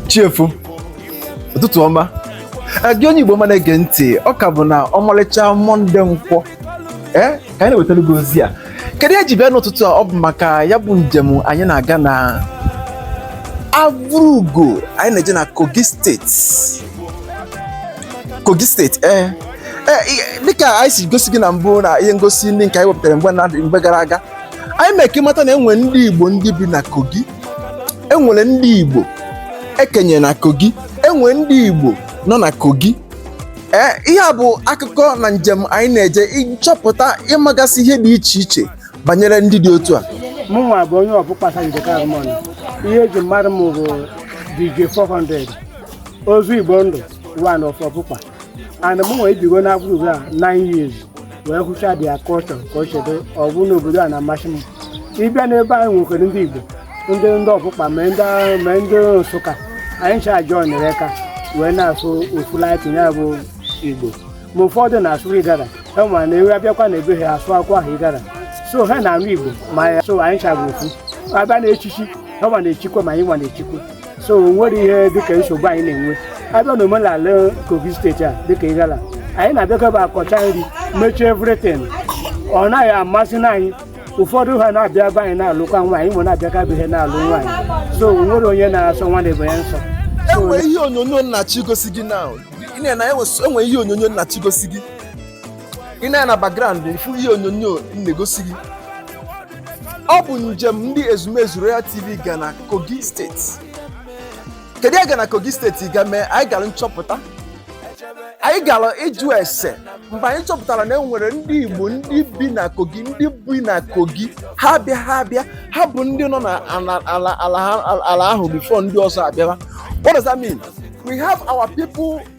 chi efo ụtụtụ ọma gị onye igbo ọma na-ege ntị ọ ka bụ na ọmalịcha mọnde nkwọ ee ka anyị na-ewetara gị ozi a kedu ihe e ji bịa n'ụtụtụ a ọ bụ maka ya bụ njem anyị na-aga na avụrugo anyị na-eje na kogi steeti Kogi steeti ee eh, eh, eh, dịka anyị si gosi gị na mbụ na ihe ngosi ndị nke anyị wepụtara mgbe na mgbe gara aga anyị mee ka ị mata na enwere ndị Igbo ndị bi na Kogi enwere ndị Igbo ekenye na Kogi enwere ndị Igbo nọ na Kogi ee ihe a bụ akụkọ na njem anyị na-eje ịchọpụta ịmagasị ihe dị iche iche banyere ndị dị otu a mụnwa bụ onye Obukpa nke ihe eji mara m bụ DJ 400 ọzọ igbo ndụ one of obukpa and mụnwa ebigo na avụrugo a nine years wee hụcha their culture ka o chedo ọ bụ n'obodo a na-amasị m ị bịa n'ebe anyị nwekwara ndị igbo ndị ndị obukpa ma ndị ma ndị nsụka anyị ncha joinere aka wee na-asụ ofu laịtị ya bụ igbo ma ụfọdụ na-asụ igala enwere na ewe abịakwa na ebe ha asụakwara ha igala so ha na-anụ igbo ma ya so anyị ncha bụ ofu a bịa na echichi hanwa na-echikwa ma anyịnwa na-echikwa so o nwerọ ihe dịka nsogbu anyị na-enwe a bịa na omenala kogi steeti a dịka igala anyị na-abịakọba akọcha nri mechaa everything ọ naghị amasị anyị ụfọdụ ha na-abịa ebe anyị na-alụkwa nwaanyị ma na-abịakwa be ha na-alụ nwaanyị so o nwerọ onye na-asọ nwanne ibe ya nsọ So, enwe ihe onyonyo m na-achọ igosi gị na ị na-ena enwe- enwe ihe onyonyo m na-achọ igosi gị ị nee na background ị fụ ihe onyonyo m na-egosi gị ọ bụ njem ndị ezumezu Royal TV ga na Kogi steeti kedu ihe a ga na Kogi steeti ga mee anyị gara nchọpụta anyị gara ịjụ ese mgbe anyị chọpụtara na e nwere ndị Igbo ndị bi na Kogi ndị bi na Kogi ha abịaghị abịa ha bụ ndị nọ na ala ahụ before ndị ọzọ abịara what does that mean we have our people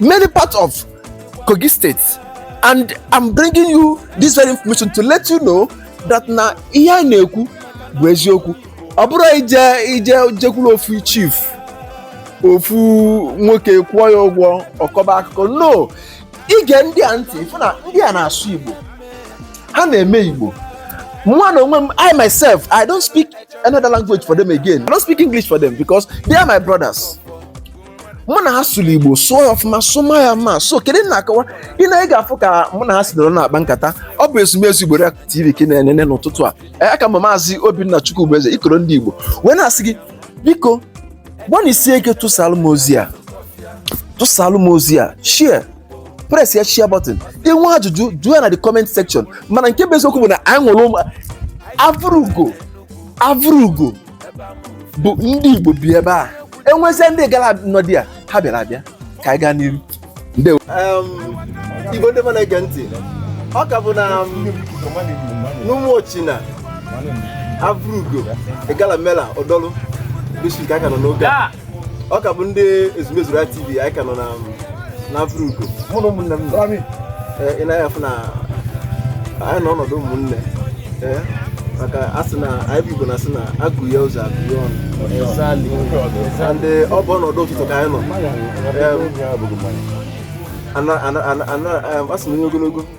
many parts of Kogi State and I'm bringing you this very information to let you know that na ihe a na-ekwu bụ eziokwu ọ bụrọ ije ije jekwuru ofu chief ofu nwoke kwụọ ya ụgwọ ọ kọba akụkọ no ị gee ndị a ntị ị fụ na ndị a na-asụ Igbo ha na-eme Igbo mụnwa na onwe m I myself I don't speak another language for them again I don't speak English for them because they are my brothers mụ na ha sụrụ igbo sụọ ya ọfụma sụma ya ma so kedu na akọwa ị na ị ga-afụ ka mụ na ha si nọrọ na-akpa nkata ọ bụ ezumezu igbo tv ka ị na-enene n'ụtụtụ a Ee, aka m maazị obinna chukwubueze ikoro ndị igbo wee na-asị gị biko gbanịsie ike tụsalụ m ozi a tụsalụ m ozi a share press ya share button i nwee ajụjụ jụọ ya na the comment section mana nke bụ eziokwu bụ na anyị nwere ụmụ Avrugo Avrugo bụ ndị Igbo bi ebe a e nwezie ndị Igala nọ there ha bịara abịa ka anyị gaa n'iru ndewo Igbo ndị ọma na-ege ntị ọ ka bụ na n'ụmụ ochina avụrugo igala mela odolu bishop ka aka nọ n'oge a ọ ka bụ ndị ezumezu Igbo TV anyị ka nọ na Avrugo mụ na ụmụnne m nọ ị na-afụ na anyị nọ ọnọdụ ụmụnne maka a sị na anyị bụ igbo na-asị na agụ ya ụzọ agụ ya ọnụ and ọ bụ ọnọdụ ụtụtụ ka anyị nọ a sị na onye ogologo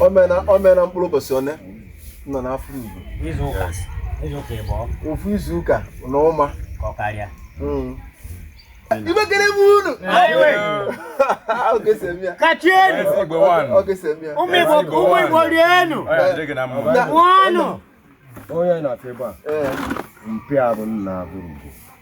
o mee na mkpụrụ ụbọchị one nọ n'afọ Igbo ofu izu ụka na ụma hmm. Igbo ekele m unu kachienu ụmụ Igbo rienu ṅụọnụ onye na-afọ ebe a eh. mpịa bụ na Avru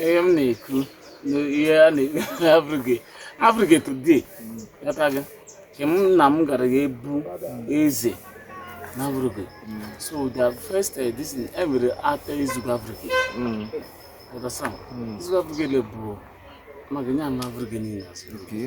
ihe m na-ekwu na ihe a na-ekwu abụghị abụghị today ghọta gị nke m na m gara ga ebu eze na abụghị so the first eh, this thing, e nwere ata ezugo abụghị ghọta sam ezugo abụghị bụ maka nye anụ abụghị niile asị Okay.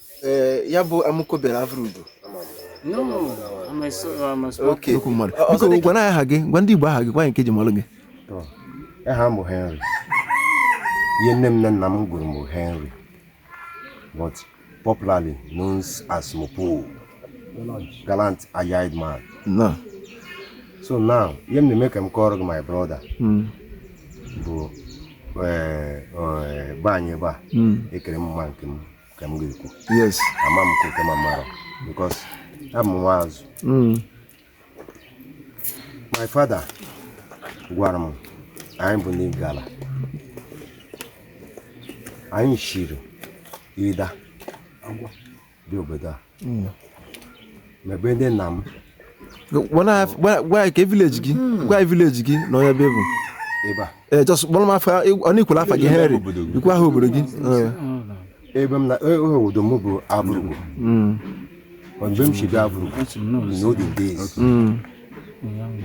Eh, ya bụ amụkobere Avrugo oke okwu mmadụ Ọ- ọzọ biko dịka- gwa anyị aha gị gwa ndị igbo aha gị gwa anyị nke e ji malụ gị aha m bụ henry ihe nne m na nna m gụrụ m bụ henry but popularly known as mopo gallant eyed man na so now ihe m na-eme ka m kọọrọ gị my brother Mm, bụ eh, eh, be anyị ebe a mm. ekere m mma nke m ka m ga-ekwu yes ama m nke m mara because abụ m nwa azụ mm. my father gwara m anyị bụ ndị Igala anyị shiri Idah bịa obodo a hmm. mebe ndị nna m gwa ya ka village gị hmm. gwa ya village gị na onye be bụ ee just kpọrọ m afa o i kwula afa gị henry i kwuo aha obodo gị ebe m na e, e, obodo m bụ Avrugo hmm. ebe m si bịa Avrugo in olden days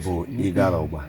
bụ Igalaogba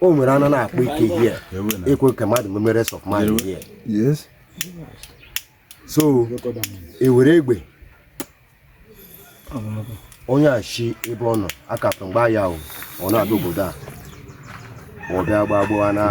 o nwere anụ na-akpa ike here ekwe ka mmadụ meme rest of mind here so e were egbe onye a shi ebe ọ nọ akapụ mgba ya ọ na-abịa obodo a ọ bịa gbagbuo anụ a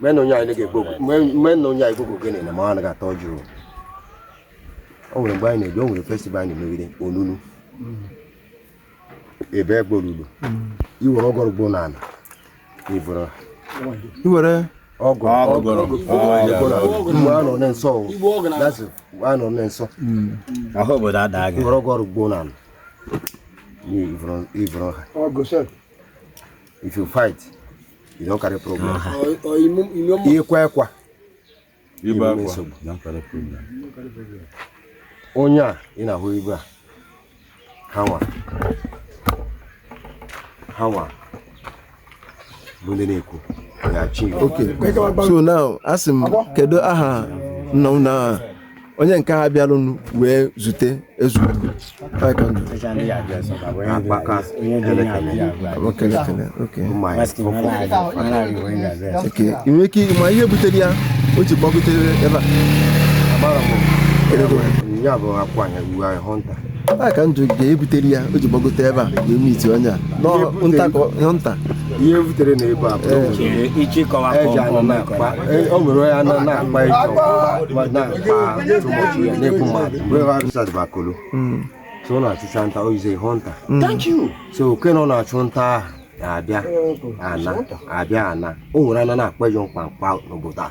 mena onye anyị gbogbo gịnị na ma ọ anaghị atọ jụụ o nwere mgbe anyị na-ebi o nwere festival anyị na-emegide onunu ebe egborulu iwere ọgọrụ gboo na ala i vuru i were ọgụ mgbe a nọ na nsọ a nọ na nsọ ahụ obodo ada gị were ọgọrụ gboo na ala i vuru ha if you fight you don carry problem ikwa ekwa ibe akwa don carry problem onye a ị na-ahụ ibe a hanwa hanwa bụ ndị na-ekwu so now a sị m kedu aha nna m na onye nke ha bịarụnụ wee zute ezugwu i nwe ike ma ihe butere ya o ji gbagotere ebe a ya bụ akwụ anya uwe anyị hunter a ka njụ ga-ebutere ya o ji gbagote ebe a wee meet onye a nọ nta ka ọ- nọ nta ihe e butere na ebe a bụ eji anụ na-akpa e- o nwere onye anụ na-akpa ịjọ ma na-akpa too much ya na-ekwu mmadụ wee ha rụsat bakolo so ọ na-achụcha nta he is a hunter so oke na ọ na-achụ nta ahụ na-abịa ana abịa ana o nwere anụ na-akpa ịjọ mkpamkpa n'obodo a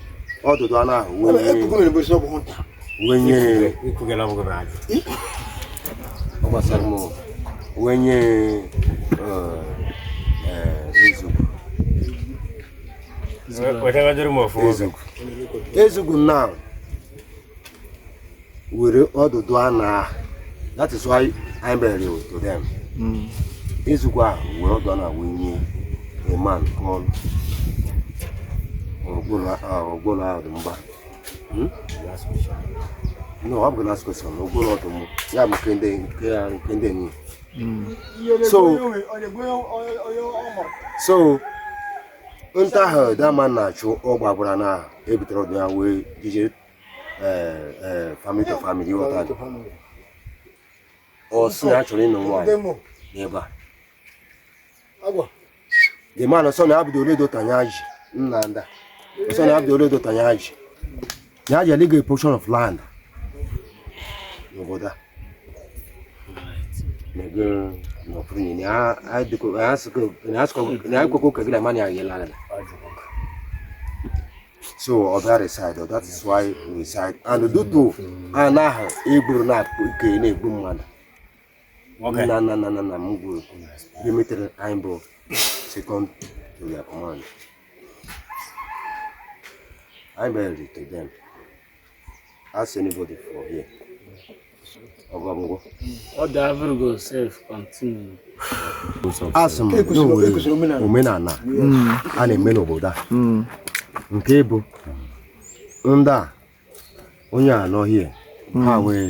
ọdụdụ anụ ahụ wenye ọ gbasara m wenye ezugwu ezugwu now were ọdụdụ anụ a that is why I buried to them ezugwu were ọdụ anụ a wee nye a man called ọgbụrụ ahụ dị mgba hmm? no ọ bụ last question ọgbụrụ ọdụ mụ ya bụ nke ndị nke ya nke ndị enyi so so nta ahụ that man na-achụ ọ gbagburu anụ a ebutere ọdụ ya wee jijere family to family ị ghọta ajụ ọ sị na a chọrọ ịnụ nwaanyị n'ebe a the man ọ sị na ọ bụ the only daughter nya ji nna nda ọ sị na ọ bụ the only daughter nya ji nya ji aligo a portion of land n'obodo a mego n'ọfụrụ nyini a sịkwa ka gị na mani agị lara so ọ bịa reside ọ that is why we reside and dutu ana ahụ egburu na nke na-egbu mmadụ Okay. na na na na na m gwuru ihe metere anyị bụ second to their command anyị bịara to them Ask anybody for here. Ogamgo. What the Avrugo self continue. Asị m na e nwere omenana a na-eme n'obodo a hmm. nke bụ ndị a onye a nọ hie ha hmm. wee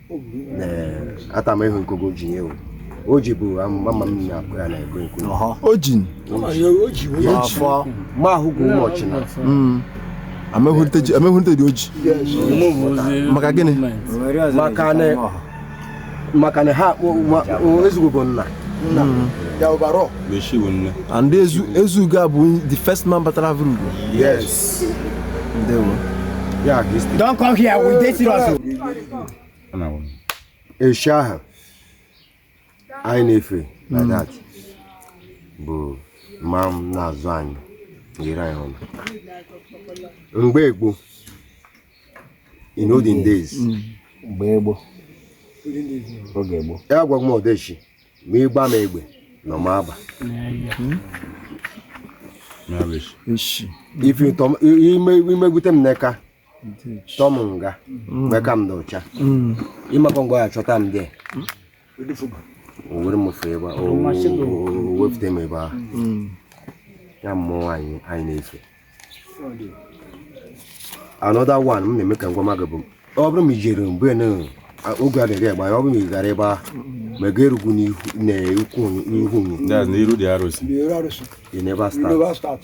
ata m ịhụ nkogo ji nye o o ji bụ mama m na-akụ ya na-ekwe nkụ ọhọ ojin n'afọ ma ahụghị ụbọchị na amehụrịta dị oji maka gịnị maka na maka na ha Ezugo bụ nna and Ezu Ezugo a bụ the first man batara Avrugo yes ndewo Yeah, Don't come here. We date serious. eshi ahụ anyị na-efe like hmm. that bụ maa na-azụ anyị nyere anyị ọnụ mgbe gboo in olden days hmm. mgbe gboo oge gboo ya gwa m odeshi ma ị gbaa m egbe na ọ ma aba hmm. ife imegwute m n'eka tọ m nga mgbe ka m dị ọcha ịmakwa ngwa ya chọta m dị o were m fe ebe a, o o wepụta m ebe ahụ ya mmụọ anyị na-efe another one m na-eme ka m gwama gị bụ ọ bụrụ ma i jere mgbe na a- oge a na-eri agba ya ọ bụrụ ma ị gara ebe ahụ ma ị ga-erugwu n'ihu na ukwu n'ihu nyi That's n'iru dị arụsị. Ndị ọrụ arụsị. ị na-ebe a Ndị start ọrụ start.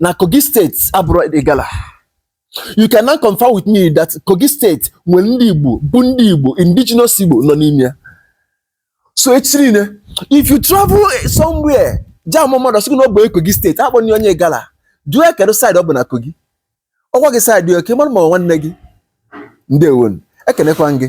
na Kogi State abụrọ Igala you can now confirm with me that Kogi State nwere ndị Igbo bụ ndị Igbo indigenous Igbo nọ n'ime ya so echi niile if you travel somewhere jam mmadụ sị na ọ bụ Kogi State akpọna onye Igala jụọ ya kedu side ọ bụ na Kogi ọ gwa gị side ị ka mara ma nwanne gị ndewo ekenekwa m gị